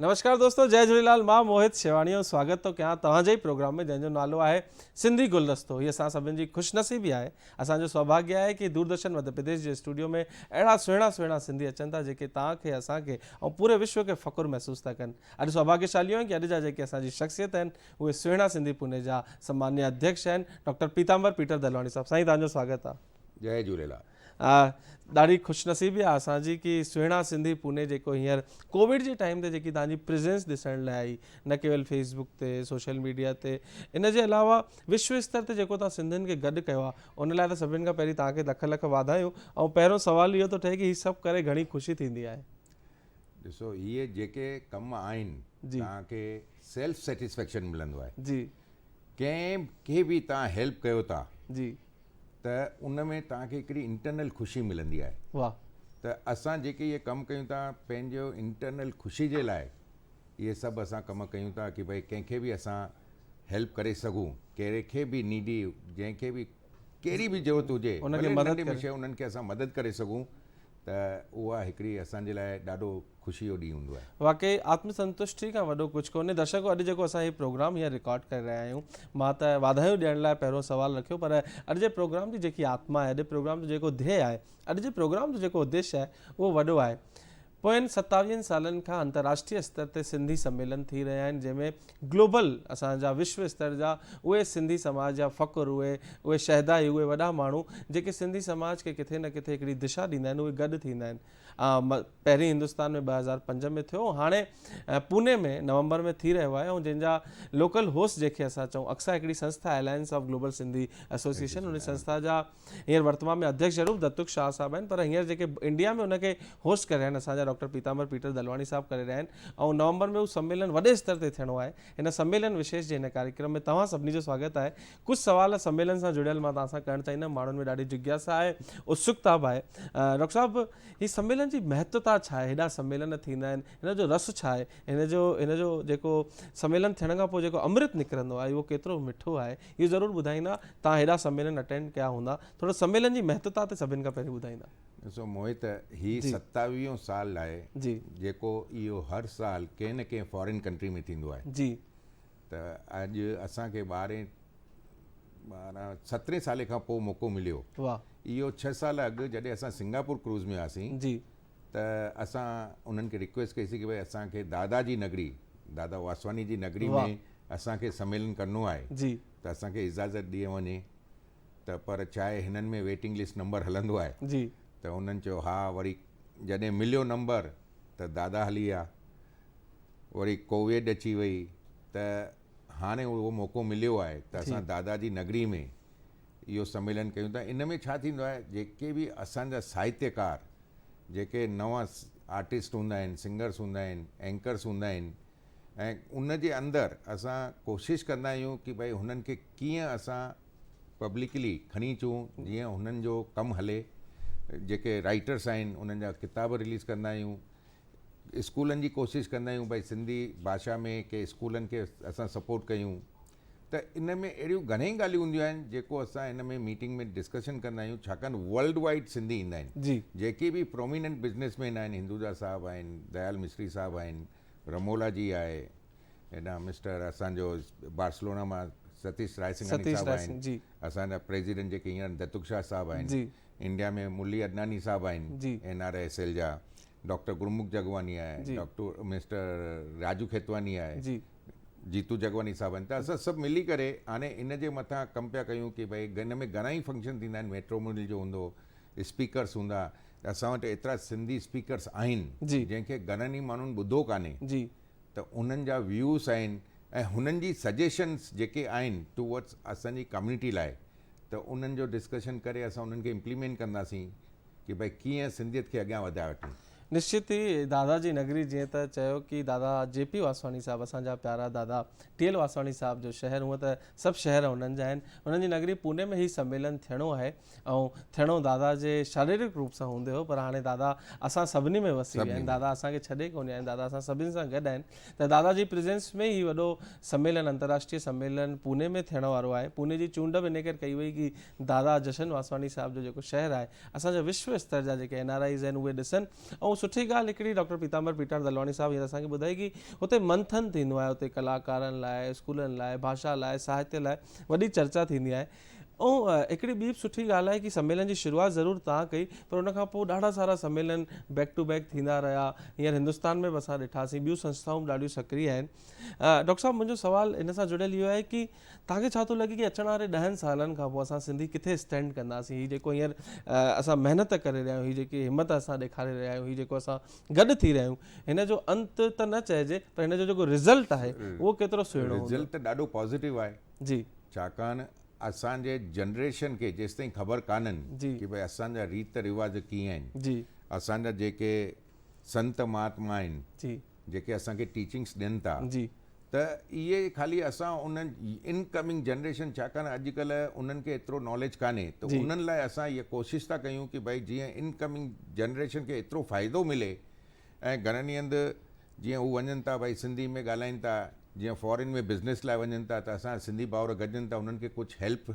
نمشڪار دوستو جئي جھوليلال مان موھت شيوانيو سواگت ٿو ڪيان توھان جي پروگرام ۾ جنھن جو نالو آھي سنڌي گلدستو ھي اسان سڀن جي خوش نصيبي آھي اسان جو سوڀاگي آھي ڪي دوردرشن مڌ پرديش جي اسٽوڊيو ۾ اھڙا سهڻا سهڻا سنڌي اچن ٿا جيڪي توھان کي اسان کي ۽ پوري وشو کي فخر محسوس ٿا ڪن اڄ سوڀاگي شاليو آھيون ڪي اڄ جا جيڪي اسان جي شخصيت آھن اھي سهڻا سنڌي پوني جا سمانيه اڌيڪش آھن ڊاڪٽر پيتامبر پيٽر دلواڻي صاحب سائين توھان جو سواگت آھي جئي جھوليلال آ ڏاڍي خوش نصيبي آ اسان جي ڪي سهڻا سنڌي پوني جيڪو هينئر ڪوويڊ جي ٽائيم تي جيڪي تهانجي پريزينس ڏسڻ لاء آئي نه ڪيول فيس بوڪ تي سوشل ميڊيا تي ان جي علاوه وشو استر تي جيڪو تهان سنڌين کي گڏ ڪيو آ ان لاء ته سڀنين کان پهرين تهانکي لک لک واڌايون ۽ پهريون سوال اهو ٿو ٺهي ڪي هي سڀ ڪري گهڻي خوشي ٿيندي آهي. ڏسو هي جيڪي ڪم آهن تهانکي سيلف سيٽسفيڪشن ملندو آهي جي ڪنهن کي به تهان هيلپ ڪيو ٿا جي ته ان ۾ توهان کي هڪڙي انٽرنل خوشي ملندي آهي واه ته اسان جيڪي اهي ڪم ڪيون ٿا پنهنجو انٽرنل خوشي جي لاء اهي سڀ اسان ڪم ڪيون ٿا ڪي ڀاء ڪنهن کي به اسان هيلپ ڪري سگهون ڪهڙي کي به نيڊي جنهن کي به ڪهڙي به ضرورت هجي انهن کي مدد ڪري سگهون ته اها هڪڙي اسان جي لاء ڏاڍو خوشي جو ڏينهن هوندو آهي. واقعي آتم سنتشٽي کان وڏو ڪجهه ڪونهي. درشڪو اڄ جيڪو اسان هي پروگرام هيئن رڪارڊ ڪري رهيا آهيون مان ته واڌايون ڏيڻ لاء پهريون سوال رکيو پر اڄ جي پروگرام جي جيڪي آتما آهي اڄ پروگرام جو جيڪو ڌيئي آهي اڄ جي پروگرام جو جيڪو اديش آهي اهو وڏو آهي پوين ستاويهن سالن کان انتراشٽري استر تي سنڌي سميلن ٿي رهيا آهن جنهن ۾ گلوبل اسان جا وشو استر جا اهي سنڌي سماج جا فخر اهي اهي شهدا اهي وڏا ماڻهو جيڪي سنڌي سماج کي ڪٿي نه ڪٿي هڪڙي دشا ڏيندا آهن اهي گڏ ٿيندا آهن پهرين هندستان ۾ ٻه هزار پنج ۾ ٿيو هاڻي پوني ۾ نومبر ۾ ٿي رهيو آهي ۽ جنهن جا لوڪل هوسٽ جنهن کي اسان چئون اڪسا هڪڙي سنسٿا alliance of global Sindhi association ان سنسٿا جا هينئر ورتمان ۾ اڌيڪش ضرور دتوڪ شاهه صاحب آهن پر هينئر جيڪي انڊيا ۾ ان کي هوسٽ ڪري رهيا آهن اسان جا ڊاڪٽر پيتامبر پيٽر دلواڻي صاحب ڪري رهيا آهن ۽ نومبر ۾ هو سميلن وڏي استر تي ٿيڻو آهي هن سميلن وشيش جي هن ڪاريڪرم ۾ توهان سڀني جو سواگت آهي ڪجهه سوال سميلن سان جڙيل مان توهان سان ڪرڻ چاهيندم، ماڻهن ۾ ڏاڍي جگياسا آهي، اتسڪتا به آهي. ڊاڪٽر صاحب هي سميلن جي مهتتا ڇا آهي؟ هيڏا سميلن ٿيندا آهن، هن جو رس ڇا آهي؟ هن جو هن جو جيڪو سميلن ٿيڻ کان پوء جيڪو امرت نڪرندو آهي اهو ڪيترو مٺو آهي؟ اهو ضرور ٻڌائيندا، توهان هيڏا سميلن اٽينڊ ڪيا هوندا، ٿورو سميلن جي مهتتا تي سڀن کان پهرين ٻڌائيندا. ڏسو موهت هي جي ستاويهون سال آهي جي جيڪو اهو هر سال ڪنهن نه ڪنهن فارين ڪنٽري ۾ ٿيندو آهي جي ته اڄ اسان کي ٻارهين ٻارهن سترهين سالي کان پوء موقعو مليو اهو ڇهه سال اڳ جڏهن اسان سنگاپور ڪروز ۾ هئاسين ته اسان انهن کي رڪويسٽ ڪئي سي ڪي ڀاء اسان کي دادا جي نگري دادا واسواني جي نگري ۾ اسان کي سميلن ڪرڻو آهي ته اسان کي اجازت ڏي وڃي ته پر ڇا آهي هنن ۾ ويٽنگ لسٽ نمبر هلندو آهي ته هنن چيو ها وري جڏهن مليو نمبر ته دادا هلي ويا، وري ڪوويڊ اچي وئي ته هاڻي اهو موقعو مليو آهي ته اسان دادا جي نگري ۾ اهو سميلن ڪيون ٿا. ان ۾ ڇا ٿيندو آهي جيڪي به اسان جا ساهتيڪار جيڪي نوان آرٽسٽ هوندا آهن، سنگرس هوندا آهن، اينڪرس هوندا آهن ۽ ان جي اندر اسان ڪوشش ڪندا آهيون ڪي ڀائي هنن کي ڪيئن اسان پبلڪلي کڻي اچون جيئن هنن جو ڪم هلي جيڪي رائٽرس آهن انهن جا ڪتاب رليز ڪندا آهيون اسڪولن جي ڪوشش ڪندا آهيون بھي سنڌي باشا ۾ ڪي اسڪولن کي اسان سپورٽ ڪيون ته ان ۾ اهڙيون گھڻيئي ڳالهيون هونديون آهن جيڪو اسان ان ۾ ميٽنگ ۾ ڊسڪشن ڪندا آهيون ڇاڪاڻ ورلڊ وائيڊ سنڌي ايندا آهن جيڪي به پروميننٽ بزنس مين آهن هندوجا صاحب آهن ديال مصري صاحب آهن رمولا جي آهي هيڏانهن مسٽر اسان جو بارسلونا مان ستيش رائسنگاني ستيش صاحب آهن رائسنگ، جي. اسان جا پريزيڊنٽ جيڪي هينئر دتوق شاهه صاحب آهن جي. انڊيا ۾ ملي عدناني صاحب آهن جي. اين آر ايس ايل جا ڊاڪٽر گرمک جگواني آهي جي. ڊاڪٽر مسٽر راجو کيتواني آهي جي. جيتو جگواني صاحب آهن ته اسان سڀ ملي ڪري هاڻي ان جي مٿان ڪم پيا ڪيون ڪي ڀاء هن ۾ گهڻا ئي فنڪشن ٿيندا آهن ميٽرومونل جو هوندو اسپيڪرس هوندا اسان وٽ ايترا سنڌي اسپيڪرس آهن جن کي گهڻن ئي ماڻهن ٻڌو ڪانهي ته انهن جا ويوز آهن ۽ هنن جي سجيشنس جيڪي آهن ٽوورڊز اسان جي ڪميونٽي لاء ته انهن جو ڊسڪشن ڪري اسان انهن کي امپليمينٽ ڪنداسين ڪي ڀائي ڪيئن سنڌيت کي اڳيان وڌائي وٺون. نشچت ئي دادا جي نگري جيئن ته چيو ڪي دادا جي پي واسواڻي صاحب اسان جا پيارا دادا ٽي ايل واسواڻي صاحب جو شهر هونء ته سڀ شهر انهن جا آهن انهن جي نگري پوني ۾ هي سميلن ٿيڻو آهي ۽ ٿيڻو دادا جي شاريرڪ روپ سان هوندي هو پر هاڻي دادا اسان سڀني ۾ وسي ويا آهن دادا اسان کي ڇڏي ڪونهي آهن دادا اسان سڀني سان گڏ آهن ته دادا جي پريزنس ۾ هي وڏو سميلن انترراشٽري سميلن پوني ۾ ٿيڻ وارو آهي پوني جي چونڊ به ان ڪري ڪئي وئي ڪي دادا جشن واسواڻي صاحب جو جيڪو شهر آهي اسان جا وشو استر جا جيڪي اين آر آئيز آهن اهي ڏسن ۽ سٺي ڳالهه هڪڙي ڊاڪٽر پيتامبر پيٽاڻ دلواڻي صاحب هينئر اسان کي ٻڌائي ڪي هتي منٿن ٿيندو آهي هتي ڪلاڪارن لاء اسڪولن لاء ڀاشا لاء ساهتيه لاء وڏي چرچا ٿيندي آهي اهو هڪڙي ٻي به سٺي ڳالهه آهي ڪي سميلن جي شروعات ضرور تان ڪئي پر ان کان پوء ڏاڍا سارا سميلن بيڪ ٽو بيڪ ٿيندا رهيا هينئر هندستان ۾ به اسان ڏٺاسين ٻيون سنسٿائون به ڏاڍيون سڪري آهن ڊاڪٽر صاحب منهنجو سوال ان سان جڙيل اهو آهي ڪي تان کي ڇا ٿو لڳي ڪي اچڻ واري ڏهن سالن کان پوء اسان سنڌي ڪٿي اسٽينڊ ڪنداسين هي جيڪو هينئر اسان محنت ڪري رهيا آهيون هي جيڪي همت اسان ڏيکاري رهيا آهيون هي جيڪو اسان گڏ ٿي رهيا آهيون هن جو انت ته نه چئجي پر هن جو جيڪو رزلٽ آهي اهو ڪيترو سهڻو هوندو رزلٽ ته ڏاڍو پازيٽو آهي جي. ڇاڪاڻ اسان جي جنريشن کي جيستائين خبر ڪانهن جي. ڪي ڀئي اسان جا ريت رواج ڪيئن آهن جي. اسان جا جيڪي سنت مهاتما آهن جي. جيڪي اسان کي ٽيچنگس ڏين ٿا جي. ته اهي خالي اسان ان ان ڪمنگ جنريشن ڇاڪاڻ اڄ ڪلهه انهن کي ايترو ناليج ڪانهي ته جي. انهن لاء اسان اها ڪوشش ٿا ڪيون ڪي ڀئي جيئن ان ڪمنگ جنريشن کي ايترو فائدو ملي ۽ گهڻن ئي هنڌ جيئن هو وڃن ٿا ڀائي سنڌي ۾ ڳالهائين ٿا جيئن فارين ۾ بزنس لاء وڃن ٿا ته اسان سنڌي ڀائر گڏجن ٿا انهن کي ڪجهه هيلپ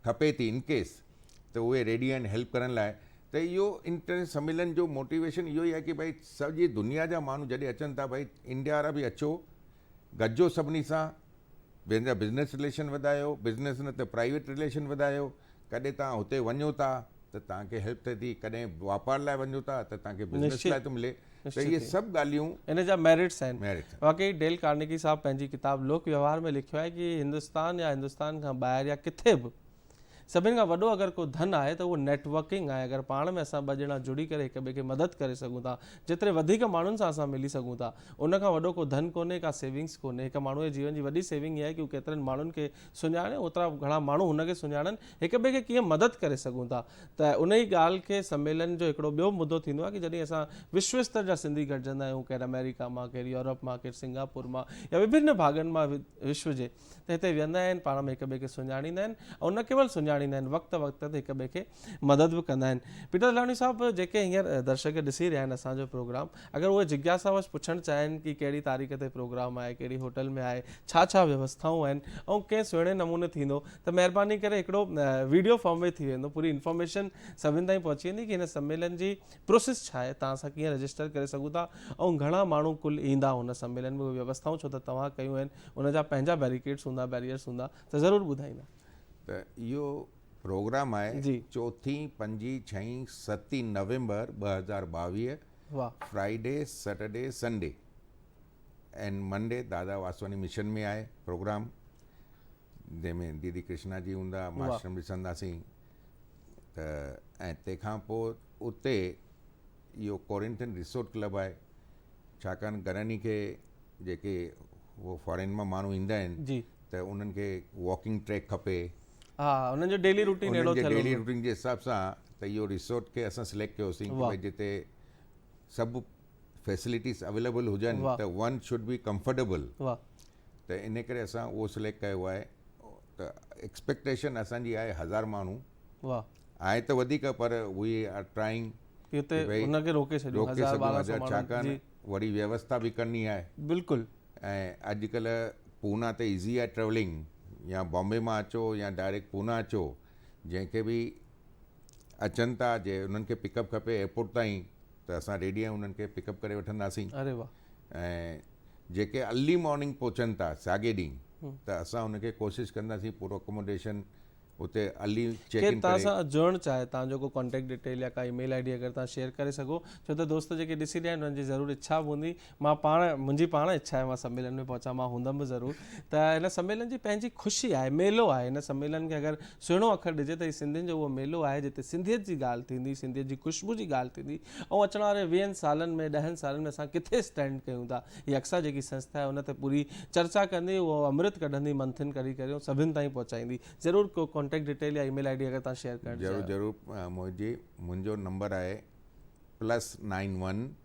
کپي ٿي ان ڪيس ته اهي ريڊي آهن هيلپ ڪرڻ لاء ته اهو انٽر سميلن جو موٽيويشن اهو ئي آهي ڪي ڀائي سڄي دنيا جا ماڻهو جڏهن اچن ٿا ڀائي انڊيا وارا به اچو گڏجو سڀني سان پنهنجا بزنس رليشن وڌايو، بزنس نه ته پرائيويٽ رليشن وڌايو، ڪڏهن توهان هتي وڃو ٿا ته توهان کي هيلپ ٿئي ٿي، ڪڏهن واپار لاء وڃو ٿا ته توهان کي بزنس لاء ٿو ملي ته اهي سڀ ڳالهيون. ان جا ميرٽس آهن. واقعي ڊيل ڪارنيگي صاحب پنهنجي ڪتاب لوڪ ويوهار ۾ لکيو آهي ڪي هندستان يا هندستان کان ٻاهر يا ڪٿي به سڀن کان وڏو اگر ڪو ڌن آهي ته اهو نيٽ ورڪنگ آهي اگر پاڻ ۾ اسان ٻه ڄڻا جڙي ڪري هڪ ٻئي کي مدد ڪري سگهون ٿا جيتري وڌيڪ ماڻهن سان اسان ملي سگهون ٿا ان کان وڏو ڪو ڌن ڪونهي ڪا سيونگس ڪونهي هڪ ماڻهو جي جيون جي وڏي سيونگ اها آهي ڪي هو ڪيترن ماڻهن کي سڃاڻي اوترا گهڻا ماڻهو هن کي سڃاڻن هڪ ٻئي کي ڪيئن مدد ڪري سگهون ٿا ته ان ئي ڳالهه کي سميلن جو هڪڙو ٻيو مدو ٿيندو آهي ڪي جڏهن اسان وشو استر جا سنڌي گڏجندا آهيون ڪير آمريڪا مان ڪير يورپ مان ڪير سنگاپور مان يا وڀن ڀاڳن مان وشو جي ته هتي ويهندا آهن پاڻ ۾ هڪ ٻئي کي سڃاڻيندا آهن ۽ نه ڪيول سڃاڻيندا آهن وقت وقت تي هڪ ٻئي کي مدد به ڪندا آهن پيٽر دلاڻي صاحب جيڪي هينئر درشڪ ڏسي رهيا آهن اسان جو پروگرام اگر اهي جگياسا وش پڇڻ چاهين ڪي ڪهڙي تاريخ تي پروگرام آهي ڪهڙي هوٽل ۾ آهي ڇا ڇا ويوسٿائون آهن ۽ ڪئين سهڻي نموني ٿيندو ته مهرباني ڪري هڪڙو ويڊيو فارم ۾ ٿي ويندو پوري انفارميشن سڀن تائين پهچي ويندي ڪي هن سميلن جي پروسيس ڇا آهي تان اسان ڪيئن رجسٽر ڪري سگهون ٿا ۽ گهڻا ماڻهو ڪل ايندا هن سميلن ۾ اهي ويوسٿائون ڇو ته توهان ڪيون آهن ان جا پنهنجا بيريڪيڊس هوندا بيريئرس هوندا ته ضرور ٻڌائيندا. ته اهو پروگرام آهي جي. چوٿين، پنجين، ڇهين، ستين نومبر ٻه هزار ٻاويهه واهه. Friday, Saturday, Sunday and Monday Dada Vaswani mission ۾ آهي پروگرام جنهن ۾ ديدي ڪرشنا جي هوندا واهه. ماشرم ڏسنداسين ته ۽ تنهن کان پوء اتي اهو ڪورنٿين ريسورٽ ڪلب آهي ڇاڪاڻ گراني کي جيڪي هو فارين مان ماڻهو ايندا آهن جي ته انهن کي واڪنگ ٽريڪ کپي ها انهن جو ڊيلي روٽين اهڙو ٿيل ڊيلي روٽين جي حساب سان ته اهو ريسورٽ کي اسان سليڪٽ ڪيوسين ته جتي سڀ فيسلٽيز اويليبل هجن ته ون شوڊ بي ڪمفرٽيبل ته ان ڪري اسان اهو سليڪٽ ڪيو آهي ته ايڪسپيڪٽيشن اسانجي آهي هزار ماڻهو آهي ته وڌيڪ پر وي آر ٽرائنگ روڪي سگهون ڇاڪاڻ وڏي ويوستا به ڪرڻي آهي بلڪل ۽ اڄڪلهه پونا ته ايزي آهي ٽريولنگ يا بامبي مان اچو يا ڊائريڪٽ پونا اچو جنهن کي به اچن ٿا جي انهن کي پڪ اپ کپي ايئرپورٽ تائين ته اسان ٽي ڏينهن انهن کي پڪ اپ ڪري وٺنداسين ۽ جيڪي ارلي مارننگ پهچن ٿا ساڳي ڏينهن ته اسان ان کي ڪوشش ڪنداسين پورو اڪاموڊيشن اتي ارلي چيڪ ان ڪري. کير تان سان جڙڻ چاهي تان جو ڪو ڪانٽيڪٽ ڊيٽيل يا ڪا اي ميل آئي ڊي اگر تان شيئر ڪري سگهو ڇو ته دوست جيڪي ڏسي رهيا آهن انهن جي ضرور اڇا به هوندي مان پاڻ منهنجي پاڻ اڇا آهي مان سميلن ۾ پهچان مان هوندم به ضرور ته هن سميلن جي پنهنجي خوشي آهي ميلو آهي هن سميلن کي اگر سهڻو اکر ڏجي ته هي سنڌين جو اهو ميلو آهي جتي سنڌيت جي ڳالهه ٿيندي سنڌيت جي خوشبو جي ڳالهه ٿيندي ۽ اچڻ واري ويهن سالن ۾ ڏهن سالن ۾ اسان ڪٿي اسٽينڊ ڪيون ٿا هي اڪسا جيڪي سنسٿا آهي ان تي پوري چرچا ڪندي اهو امرت ڪڍندي منٿن ڪري ڪري ۽ سڀن تائين پهچائيندي ضرور ڪو ڪانٽيڪٽ ڊيٽيل يا اي ميل آئي ڊي اگر تان شيئر ڪرڻ ضرور ضرور موهت جي منهنجو نمبر آهي plus nine one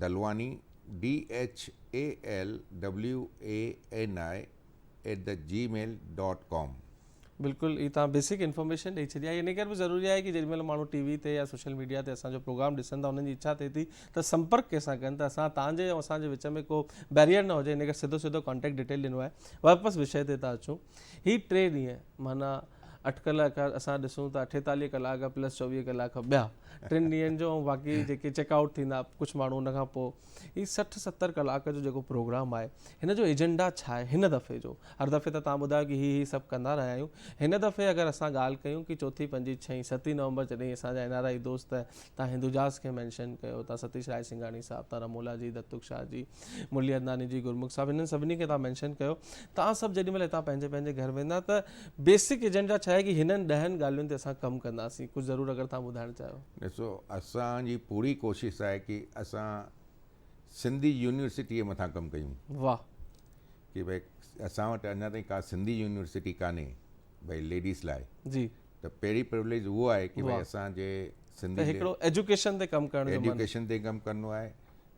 Dhalwani, D H A L W A N I, at the جي ميل ڊاٽ ڪام. بلڪل هي توهان بيسڪ انفارميشن ڏئي ڇڏي آهي انهي ڪري به ضروري آهي ڪي جيڏي مهل ماڻهو ٽي وي تي يا سوشل ميڊيا تي اسان جو پروگرام ڏسن ٿا انهن جي اڇا ٿئي ٿي ته سمپرڪ ڪنهن سان ڪن ته اسان توهان جي ۽ اسان جي وچ ۾ ڪو بيريئر نه هجي انهي ڪري سڌو سيدو ڪانٽيڪٽ ڊيٽيل ڏنو آهي واپس وشي تي ٿا اچون هي ٽي ڏينهن معنيٰ اٽڪل اگر اسان ڏسون ته اٺيتاليهه ڪلاڪ پلس چوويهه ڪلاڪ ٻيا ٽن ڏينهن جو ۽ باقي جيڪي چيڪ آئوٽ ٿيندا ڪجهه ماڻهو ان کان پوء هي سٺ ستر ڪلاڪ جو جيڪو پروگرام آهي هن جو ايجنڊا ڇا آهي هن دفعي جو هر دفعي ته تان ٻڌايو ڪي هي هي سڀ ڪندا رهيا آهيون هن دفعي اگر اسان ڳالهه ڪيون ڪي چوٿين پنجين ڇهين ستين نومبر جڏهين اسان جا اين آر آئي دوست تان هندوجاز کي مينشن ڪيو تان ستيش راء سنگهاڻي صاحب تان رمولا جي دتوڪ شاهه جي مرلي عدناني جي گرمک صاحب هنن سڀني کي تان مينشن ڪيو توهان سڀ جيڏي مهل هتان پنهنجي پنهنجي گهر ويندا ته بيسڪ ايجنڊا ڇا آهي ڪي هنن ڏهن ڳالهين تي اسان ڪم ڪنداسين ڪجهه ضرور اگر توهان ٻڌائڻ چاهيو. ڏسو اسان جي پوري ڪوشش آهي ڪي اسان سنڌي يونيورسٽي مٿان ڪم ڪيون. واھ. ڪي بھي اسان وٽ اڃا تائين ڪا سنڌي يونيورسٽي ڪانھي بھي ليڊيز لاء. جي. ته پهرين پرويليج اھو آھي ڪي بھي اسان جي سنڌي. ته هڪڙو ايجوڪيشن تي ڪم ڪرڻ جو من. ايجوڪيشن تي ڪم ڪرڻو آهي.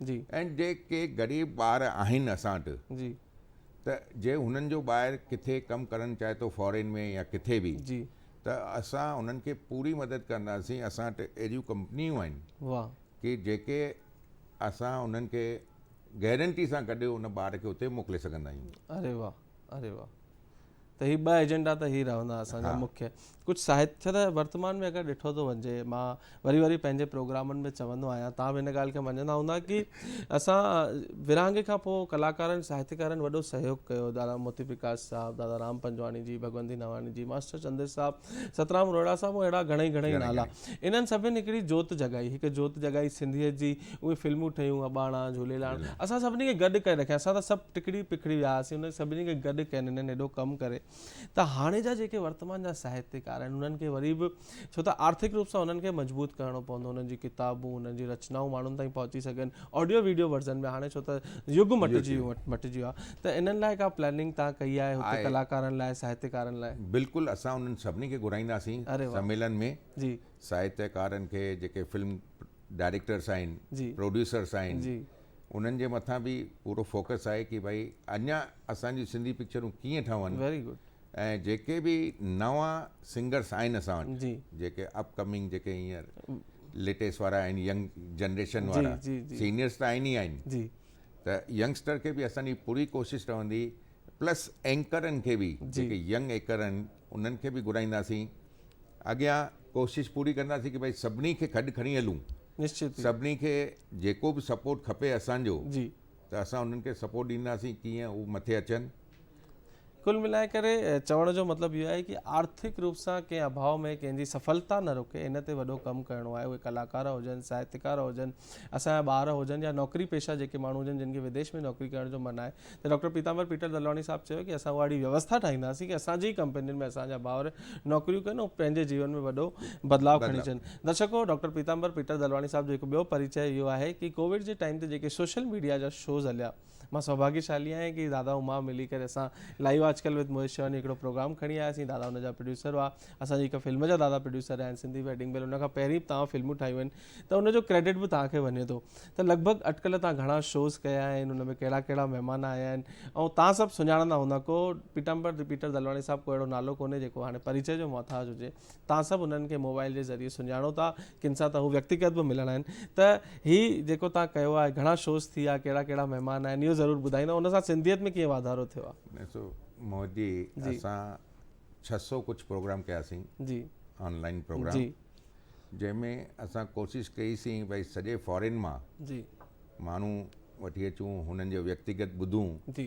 جي. ۽ جي ڪي غريب ٻار آهن اسان وٽ جي. ته جي هنن جو ٻاهر ڪٿي ڪم ڪرڻ چاهي ٿو فارين ۾ يا ڪٿي به جي. ته اسان انهن کي پوري مدد ڪنداسين اسان وٽ اهڙيون ڪمپنيون آهن واهه. ڪي جيڪي اسان انهن کي گيرنٽي سان گڏ ان ٻار کي اتي موڪلي سگهندا آهيون. اري واهه. اري واھ ته هي ٻه ايجنڊا ته هي رهندا اسان جا مکيه ڪجهه ساهت ڇا ته ورتمان ۾ اگر ڏٺو ٿو وڃي مان وري وري پنهنجي پروگرامن ۾ چوندو آهيان تان به ان ڳالهه کي مڃندا هوندا ڪي اسان ورهاڱي کان پوء ڪلاڪارن ساهتڪارن وڏو سهيوگ ڪيو دادا موتي پرڪاش صاحب دادا رام پنجواڻي جي ڀڳوندي نواڻي جي ماسٽر چندر صاحب سترام روهيڙا صاحب ۽ اهڙا گهڻئي گهڻئي نالا انهن سڀن هڪڙي جوت جڳائي هڪ جوت جڳائي سنڌيت جي اهي فلمون ٺهيون اباڻا جهوليلاڻ اسان سڀني کي گڏ ڪري رکيا اسان ته سڀ ٽکڙي پکڙي ويا هئاسين انهن سڀني کي گڏ ڪين انهن ايڏو ڪم ڪري ته هاڻي جا جيڪي ورتمان جا ساهتيڪار آهن انهن کي وري به ڇو ته آرٿڪ روپ سان انهن کي مضبوط ڪرڻو پوندو انهن جي ڪتابون انهن جي رچنائون ماڻهن تائين پهچي سگهن آڊيو ويڊيو ورزن ۾ هاڻي ڇو ته يگ مٽجي ويو مٽجي ويو آهي ته انهن لاء ڪا پلاننگ توهان ڪئي آهي هتي ڪلاڪارن لاء ساهتيڪارن لاء؟ بلڪل اسان انهن سڀني کي گهرائينداسين سميلن ۾ ساهتيڪارن کي جيڪي فلم ڊائريڪٽرس آهن پروڊيوسرس آهن انهن جي مٿان به پورو فوڪس آهي ڪي ڀائي اڃا اسان جون سنڌي پڪچرون ڪيئن ٺهن ۽ جيڪي به نوان سنگرس آهن اسان وٽ جيڪي اپ ڪمنگ جيڪي هينئر ليٽيسٽ وارا آهن ينگ جنريشن وارا سينيئرس ته آهن ئي آهن ته ينگسٽر کي به اسان جي پوري ڪوشش رهندي پلس اينڪرن کي به جيڪي ينگ اينڪر آهن انهن کي به گهرائينداسين اڳيان ڪوشش پوري ڪنداسين ڪي ڀاء سڀني کي گڏ کڻي هلون نشچت سڀني کي جيڪو به سپورٽ کپي اسان جو جي ته اسان انهن کي سپورٽ ڏينداسين ڪيئن هو مٿي اچن ڪل ملائي ڪري چوڻ جو مطلب اهو آهي ڪي آرٿڪ روپ سان ڪنهن اڀاء ۾ ڪنهن جي سڦلتا نه رڪي ان تي وڏو ڪم ڪرڻو آهي اهي ڪلاڪار هجن ساهتڪار هجن اسان جا ٻار هجن يا نوڪري پيشه جيڪي ماڻهو هجن جن کي وديش ۾ نوڪري ڪرڻ جو من آهي ته ڊاڪٽر پيتامبر پيٽر دلواڻي صاحب چيو ڪي اسان اهڙي ويوسٿا ٺاهينداسين ڪي اسان جي ڪمپنين ۾ اسان جا ڀائر نوڪريون ڪن ۽ پنهنجي جيون ۾ وڏو بدلاء کڻي اچن درشڪو ڊاڪٽر پيتامبر پيٽر دلواڻي صاحب جو هڪ ٻيو پريچاء اهو آهي ڪي ڪوويڊ جي ٽائيم تي جيڪي سوشل ميڊيا جا شوز هليا مان سوڀاگيشالي آهيان ڪي دادا ۽ مان ملي ڪري اسان لائيو آج ڪل وٿ موهيش شيواني هڪڙو پروگرام کڻي آيا سين دادا ان جا پروڊيوسر هئا اسان جي هڪ فلم جا دادا پروڊيوسر آهن سنڌي ويڊنگ بيل ان کان پهرين به تاهان فلمون ٺاهيون آهن ته ان جو ڪريڊٽ به تاهان کي وڃي ٿو ته لڳ ڀڳ اٽڪل تاهان گهڻا شوز ڪيا آهن ان ۾ ڪهڙا ڪهڙا مهمان آيا آهن ۽ تاهان سڀ سڃاڻندا هوندا ڪو پيٽامبر رپيٽر دلواڻي صاحب ڪو اهڙو نالو ڪونهي جيڪو هاڻي پريچي جو محتاج هجي توهان سڀ انهن کي موبائل جي ذريعي سڃاڻو ٿا، ڪن سان ته هو ويڪتيگت به ملڻ آين ته هي جيڪو توهان ڪيو آهي، گهڻا شوز ٿيا، ڪهڙا ڪهڙا مهمان آين، اهو ضرور ٻڌائيندا، ان سان سنڌيت ۾ ڪيئن واڌارو ٿيو آهي؟ ڏسو موهت جي اسان ڇهه سؤ ڪجهه پروگرام ڪياسين جي آن لائين پروگرام جنهن ۾ اسان ڪوشش ڪئي سين ڀائي سڄي فارين مان جي ماڻهو وٺي اچون هنن جو ويڪتيگت ٻڌون جي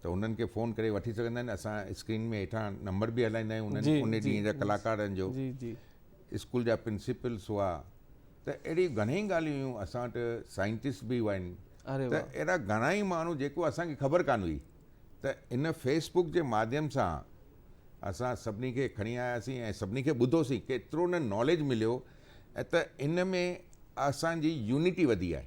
ته انهن کي فون ڪري وٺي سگهندا آهن اسان اسڪرين ۾ هيٺان نمبر به هلائيندا آهيون انهن ان ڏينهن جا ڪلاڪارن جو اسڪول جا پرنسپلس هئا ته اهڙيون گهڻيئي ڳالهيون هيون اسان وٽ سائنٽسٽ به هئا آهن ته اهڙا گهڻائي ماڻهو جيڪو اسانکي خبر ڪانه هئي ته ان فيسبوڪ جي ماڌيم سان اسان سڀني کي کڻي آياسين ۽ سڀني کي ٻڌوسين ڪيترو نه ناليج مليو ته ان ۾ اسانجي يونٽي وڌي آهي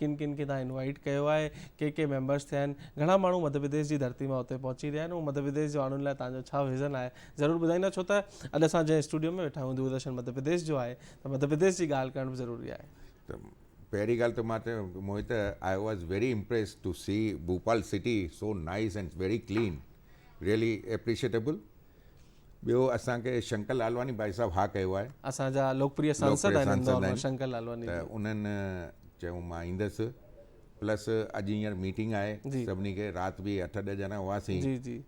ڪن ڪن کي تان انوائيٽ ڪيو آهي ڪي ڪي ميمبرس ٿيا آهن گهڻا ماڻهو مڌ پرديش جي ڌرتي مان اتي پهچي رهيا آهن ۽ مڌ پرديش جي ماڻهن لاء تان جو ڇا ويزن آهي ضرور ٻڌائيندا ڇو ته اڄ اسان جنهن اسٽوڊيو ۾ ويٺا آهيون دورادرشن مڌ پرديش جو آهي ته مڌ پرديش جي ڳالهه ڪرڻ به ضروري آهي ته پهرين ڳالهه ته مان چيو Mohit I was very impressed to see Bhopal city so nice and very clean really appreciable ٻيو اسان کي شنڪر لالواني ڀائي صاحب ها ڪيو آهي اسان جا لوڪپريه سانسد آهن ان دور ۾ شنڪر لالواني ته انهن چيو مان ايندس پلس اڄ هينئر ميٽنگ آهي سڀني کي رات به اٺ ڏهه ڄڻا هئاسين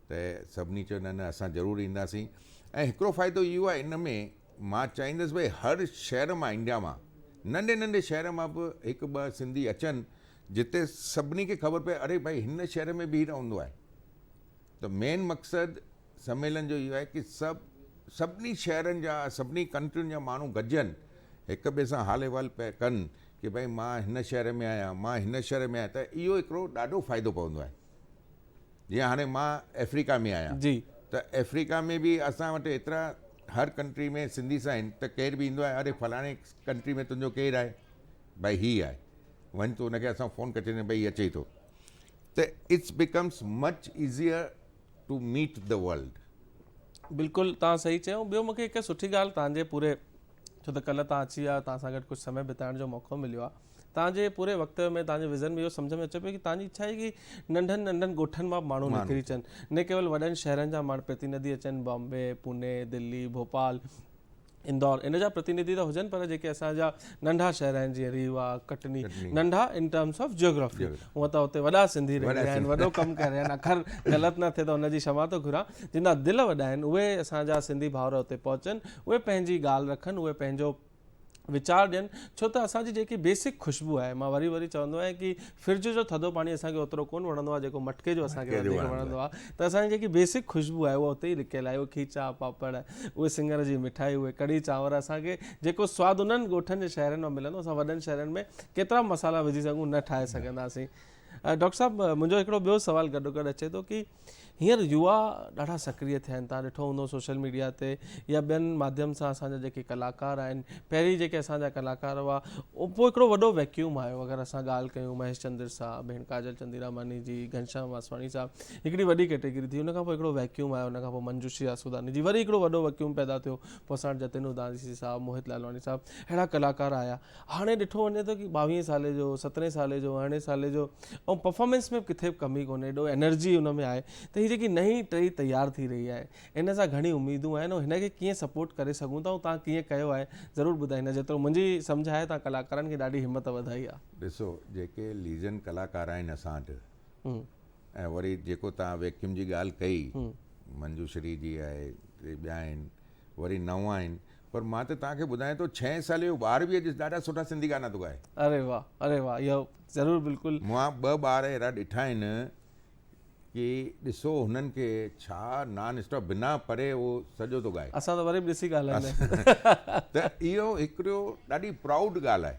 ته سڀني چيو نه نه اسان ضرور اينداسين ۽ هڪڙو فائدو اهو آهي ان ۾ مان چاهيندس ڀائی هر شهر مان انڊيا مان ننڍي ننڍي شهر مان به هڪ ٻه سنڌي اچن جتي سڀني کي خبر پئي اڙي ڀائی هن شهر ۾ به هي رهندو آهي ته مين مقصد سميلن جو اهو آهي ڪي سڀ سڀني شهرن جا سڀني ڪنٽرين جا ماڻهو گڏجن هڪ ٻئي سان حال احوال پئي ڪن ڪي ڀائي مان هن شهر ۾ آهيان مان هن شهر ۾ آهيان ته اهو هڪڙو ڏاڍو فائدو پوندو آهي جيئن هاڻي مان افريقا ۾ آهيان جي ته افريقا ۾ به اسان وٽ ايترا هر ڪنٽري ۾ سنڌيس آهن ته ڪير به ايندو آهي اري فلاڻي ڪنٽري ۾ تنهنجو ڪير آهي ڀائي هي آهي وڃ ته هن کي اسان فون ڪري ڇڏيندو آهي ڀائي هي اچي ٿو ته it's becomes much easier to meet the world. بلڪل توهان صحيح چيو ٻيو مونکي هڪ سٺي ڳالهه توهان جي پوري ڇو ته ڪلهه توهان اچي ويا توهان سان گڏ ڪجهه سمي بتائڻ جو موقعو مليو آهي توهان جي پوري وقت ۾ توهان جي وزن ۾ اهو سمجهه ۾ اچي پيو ڪي توهان جي اڇا آهي ڪي ننڍن ننڍن ڳوٺن مان به ماڻهو نڪري اچن نه ڪيول وڏن شهرن جا ماڻهو پرتيندي اچن بامبي پوني دلي ڀوپال اندور ان جا پرتينڌي ته هجن پر جيڪي اسان جا ننڍا شهر آهن جيئن ريوا ڪٽني ننڍا ان ٽرمس آف جيوگرافي هونء ته اتي وڏا سنڌي رهي رهيا آهن وڏو ڪم ڪري رهيا آهن اکر غلط نه ٿئي ته ان جي شمع ٿو گهران جن جا دل وڏا آهن اهي اسان جا سنڌي ڀائر اتي پهچن اهي پنهنجي ڳالهه رکن اهي پنهنجو ويچار ڏين ڇو ته اسان جي جيڪي بيسڪ خوشبو آهي مان وري وري چوندو آهيان ڪي فرج جو ٿڌو پاڻي اسان کي اوترو ڪون وڻندو آهي جيڪو مٽڪي جو اسان کي وڌيڪ وڻندو آهي ته اسان جي جيڪي بيسڪ خوشبو آهي اها اتي ئي لڪيل آهي اهي کيچا پاپڙ اهي سنگر جي مٺائي اهي ڪڙهي چانور اسان کي جيڪو سواد انهن ڳوٺن جي شهرن ۾ ملندو اسان وڏن شهرن ۾ ڪيترا مصالحا وجهي سگهون نه ٺاهي سگهنداسين ڊاڪٽر صاحب منهنجو هڪڙو ٻيو سوال گڏوگڏ اچي ٿو ڪي هينئر يووا ڏاڍا سڪريه ٿين ٿا ڏٺو هوندو سوشل ميڊيا تي يا ٻين ماڌيم سان اسان جا جيڪي ڪلاڪار آهن پهرين جيڪي اسان جا ڪلاڪار هئا پوء هڪڙو وڏو ويڪيوم آيو اگر اسان ڳالهه ڪيون مهيش چندر صاحب ڀيڻ ڪاجل چنديراماني جي گهنشام واسواڻي صاحب هڪڙي وڏي ڪيٽيگري ٿي ان کان پوء هڪڙو ويڪيوم آيو ان کان پوء منجوشي آسوداني جي وري هڪڙو وڏو ويڪيوم پيدا ٿيو پوء اسان وٽ جتن اوداسي صاحب موهت لالواڻي صاحب اهڙا ڪلاڪار آيا هاڻي ڏٺو وڃي ٿو ڪي ٻاويهين سالي جو سترهين سالي جو ارڙهين سالي جو ۽ پرفارمنس ۾ ڪٿي به ڪمي ڪونهي ايڏو انرجي ان ۾ آهي ته هي جيڪي نئين ٽهي تيار ٿي رهي آهي ان سان گهڻي اميدون آهن ۽ هن کي ڪيئن سپورٽ ڪري سگهون ٿا ۽ تان ڪيئن ڪيو آهي ضرور ٻڌائيندا جيترو منهنجي سمجهه آهي تان ڪلاڪارن کي ڏاڍي همت وڌائي آهي. ڏسو جيڪي ليجنڊ ڪلاڪار آهن اسان وٽ ۽ وري جيڪو تان ويڪيوم جي ڳالهه ڪئي منجو شري جي آهي ٻيا آهن وري نئون آهن پر مان ته توهان کي ٻڌايان ٿو ڇهين سالي جو ٻار به اڄ ڏاڍا سٺا سنڌي گانا ٿو ڳائي. اري واھ اري واھ اهو ضرور بلڪل. مون ٻه ٻار اهڙا ڏٺا آهن ڪي ڏسو هنن کي ڇا نان اسٽاپ بنا پري اهو سڄو ٿو ڳائي. اسان ته وري به ڏسي ڳالهائيندا آهيون. ته اهو هڪڙو ڏاڍي پرائوڊ ڳالهه آهي.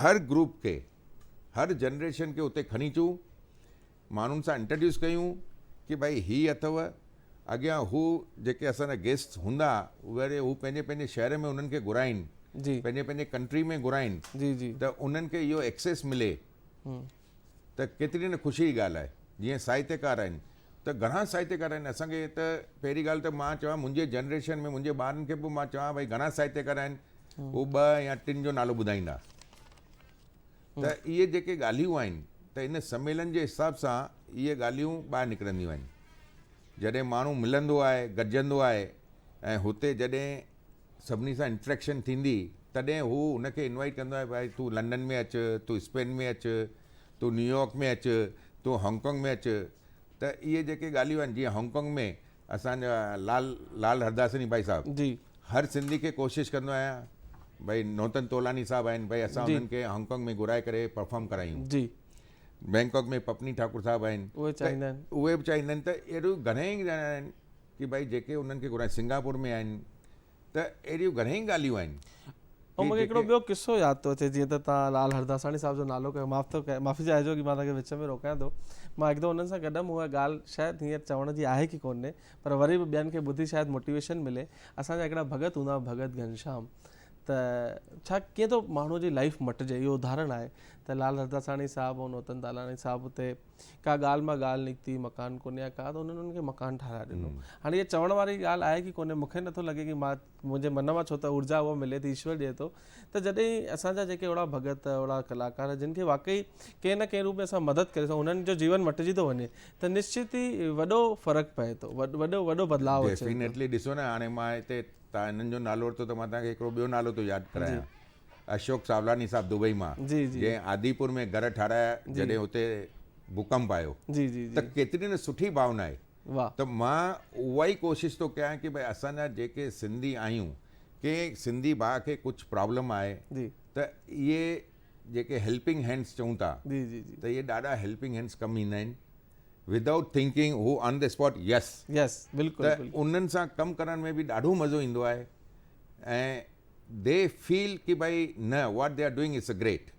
هر گروپ کي هر جنريشن کي اتي کڻي اچون ماڻهن سان انٽرڊيوس ڪيون ڪي ڀائي هي اٿو اڳيان هو جيڪي اسان جا گيسٽ هوندا وري هو پنهنجي پنهنجي شهر ۾ انهن کي گهرائين جي پنهنجي پنهنجي ڪنٽري ۾ گهرائين جي جي ته انهن کي اهو ايڪسيس ملي ته ڪيتري نه خوشي جي ڳالهه آهي جيئن ساهتڪار آهن ته گهڻا ساهتڪار آهن اسان کي ته پهرين ڳالهه ته مان چوان منهنجي جنريشن ۾ منهنجي ٻارن کي به مان چوان ڀائي گهڻا ساهتڪار آهن هو ٻه يا ٽن جو نالو ٻڌائيندا ته اهي جيڪي ڳالهيون آهن ته ان سميلن جي حساب سان اهي ڳالهيون ٻاهر نڪرنديون آهن. جڏهن ماڻهو ملندو آهي، گڏجندو آهي ۽ هتي جڏهن سڀني سان انٽريڪشن ٿيندي تڏهن هو هن کي انوائيٽ ڪندو آهي ڀائي تون لنڊن ۾ اچ، تون اسپين ۾ اچ، تون نيويارڪ ۾ اچ، تون هانگ ڪانگ ۾ اچ ته اهي جيڪي ڳالهيون آهن جيئن هانگ ڪانگ ۾ اسان جا لال لال هرداسني ڀائي صاحب جي هر سنڌي کي ڪوشش ڪندو آهيان ڀائي نوتن تولاني صاحب آهن ڀائي اسان جي انهن کي هانگ ڪانگ ۾ گهرائي ڪري پرفارم ڪرايون جي بئنڪاڪ ۾ پپني ٺاڪر صاحب آهن اهي چاهيندا آهن اهي به چاهيندا آهن ته اهڙو گهڻا ئي ڄڻا آهن ڪي ڀائي جيڪي انهن کي گهرائي سنگاپور ۾ آهن ته اهڙيون گهڻيئي ڳالهيون آهن. ۽ مون کي هڪڙو ٻيو قصو ياد ٿو اچي جيئن ته توهان لعل هرداساڻي صاحب جو نالو کنيو معاف ٿو ڪيان معافي چاهجو ڪي مان توهان کي وچ ۾ روڪيان ٿو مان هڪ دفعو انهن سان گڏ هيم اها ڳالهه شايد هينئر چوڻ جي آهي ڪي ڪونهي پر وري به ٻين کي ٻڌي شايد موٽيويشن ملي اسان جا هڪڙا ڀڳت هوندا هئا ڀڳت گهنشام ته ڇا ڪيئن ٿو ماڻهوء جي لائيف مٽجي اهو ادهارڻ آهي ته لعل هرداساڻي صاحب ۽ نوتن تالاڻي صاحب اتي ڪا ڳالهه مان ڳالهه نڪتي مڪان ڪونهي يا ڪا ته انهن انهن کي مڪان ٺاهرائي ڏنو هاڻي اها چوڻ واري ڳالهه آهي ڪي ڪونهي مونکي نٿو لڳي ڪي مان منهنجي من مان ڇو ته اورجا اها ملي ٿي ايشور ڏئي ٿو ته جڏهن اسان جا جيڪي اهڙا ڀڳت اهڙا ڪلاڪار جن کي واقعي ڪنهن نه ڪنهن روپ ۾ اسان مدد ڪري سگهون انهن جو جيون مٽجي ٿو وڃي ته نشچت ئي وڏو فرق پئي ٿو وڏو وڏو بدلاء اچي ٿو ڏيفينيٽلي ڏسو نه هاڻي مان هتي تان هنن جو نالو ورتو ته مان توهان کي هڪڙو ٻيو نالو ٿو ياد ڪرايان اشوڪ ساولاني صاحب دبئي مان جنهن آديپور ۾ گهر ٺارايا جڏهن اتي ڀوڪمپ آيو ته ڪيتري نه سٺي ڀاونا آهي ته مان اها ئي ڪوشش ٿو ڪيان ڪي ڀاء اسان جا جيڪي سنڌي آهيون ڪنهن سنڌي ڀاء کي ڪجهه پرابلم آهي ته اهي جيڪي هيلپنگ هينڊس چئون ٿا ته اهي ڏاڍا هيلپنگ هينڊس ڪم ايندا آهن ودائوٽ ٿنڪنگ هو on the spot yes yes بلڪل انهن سان ڪم ڪرڻ ۾ به ڏاڍو مزو ايندو آهي ۽ دي فيل ڪي ڀائي نه what they are doing it's a great.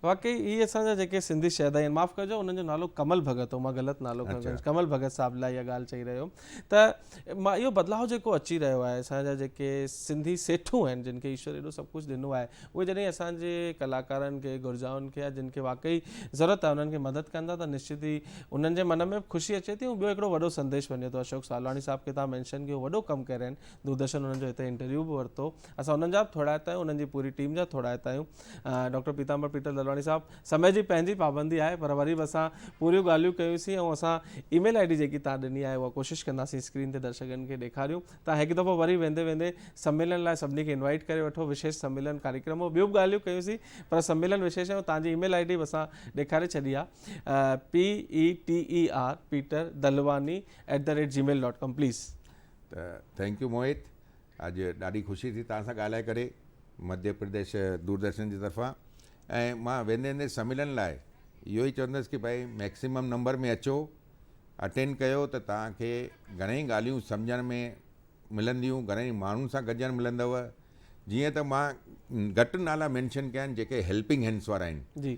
واقعي هي اسان جا جيڪي سنڌي شهدا آهن معاف ڪجو انهن جو نالو ڪمل ڀڳت هو مان غلط نالو کڻي ڪنهن ڪمل ڀڳت صاحب لاء اها ڳالهه چئي رهيو هيم ته مان اهو بدلاء جيڪو اچي رهيو آهي اسان جا جيڪي سنڌي سيٺون آهن جن کي ايشور ايڏو سڀ ڪجهه ڏنو آهي اهي جڏهن اسان جي ڪلاڪارن کي گرجائن کي يا جن کي واقعي ضرورت آهي انهن کي مدد ڪن ٿا ته نشچت ئي انهن جي من ۾ خوشي اچي ٿي ۽ ٻيو هڪڙو وڏو سنديش وڃي ٿو اشوڪ سالواڻي صاحب کي توهان مينشن ڪيو وڏو ڪم ڪرين دوردرشن انهن جو هتي انٽرويو به ورتو اسان انهن جا به ٿورا آهيون انهن جي پوري ٽيم جا ٿورا آهيون ڊاڪٽر پيتامبر پيٽر دلواڻي صاحب سمي جي پنهنجي پابندي آهي پر وري به اسان پوريون ڳالهيون ڪيوسين ۽ اسان اي ميل آئي ڊي جيڪي تان ڏني آهي اها ڪوشش ڪنداسين اسڪرين تي درشڪن کي ڏيکاريون تان هڪ دفعو وري ويندي ويندي سميلن لاء سڀني کي انوائٽ ڪري وٺو وشيش سميلن ڪاريڪرم هو ٻيون به ڳالهيون ڪيوسين پر سميلن وشيش آهي تان جي اي ميل آئي ڊي به اسان ڏيکاري ڇڏي آهي P E T E R Peter Dalwani at the rate جي ميل ڊاٽ ڪام پليز ته ٿينڪ يو موهت اڄ ڏاڍي خوشي ٿي توهان سان ڳالهائي ڪري مڌيه پرديش دوردرشن جي طرفان ۽ مان ويندي ويندي سميلن لاء اهو ئي چوندس ڪي ڀائي ميڪسيمم نمبر ۾ اچو اٽينڊ ڪيو ته توهان کي گهڻيئي ڳالهيون سمجهڻ ۾ ملنديون گهڻيئي ماڻهن سان گڏجڻ ملندو جيئن ته مان گهٽ نالا مينشن ڪيا آهن جيڪي هيلپنگ هينڊس وارا آهن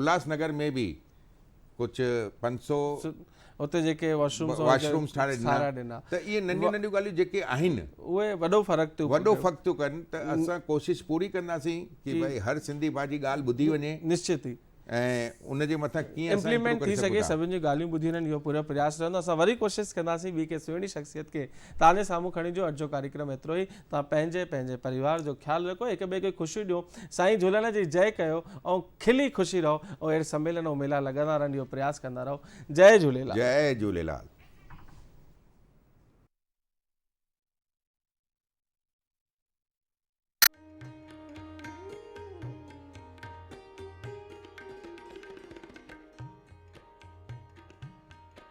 الهاس نگر ۾ به ڪجهه پنج سؤ اتي جيڪي واشرومس ٺاهي ڏنا ته اهي ننڍيون ننڍيون ڳالهيون جيڪي آهن اهي وڏو فرق ٿيو وڏو فرق ٿيو ڪن ته اسان ڪوشش پوري ڪنداسين ته ڀاء هر سنڌي ڀاء جي ڳالهه ٻڌي وڃي نشچت ئي ۽ ان جي مٿان ڪيئن امپليمنٽ ٿي سگهي سڀني جون ڳالهيون ٻڌي وڃن اهو پورو پرياس رهندو اسان وري ڪوشش ڪنداسين ٻي ڪنهن سهڻي شخصيت کي تان جي سامهون کڻي جو اڄ جو ڪاريڪرم ايترو ئي توهان پنهنجي پنهنجي پريوار جو خيال رکو هڪ ٻئي کي خوشيون ڏيو سائين جهولڻ جي جئ ڪيو ۽ کلي خوشي رهو ۽ اهڙي سميلن ۽ ميلا لڳندا رهن اهو پرياس ڪندا رهو جئ جهوليلال. جئ جهوليلال.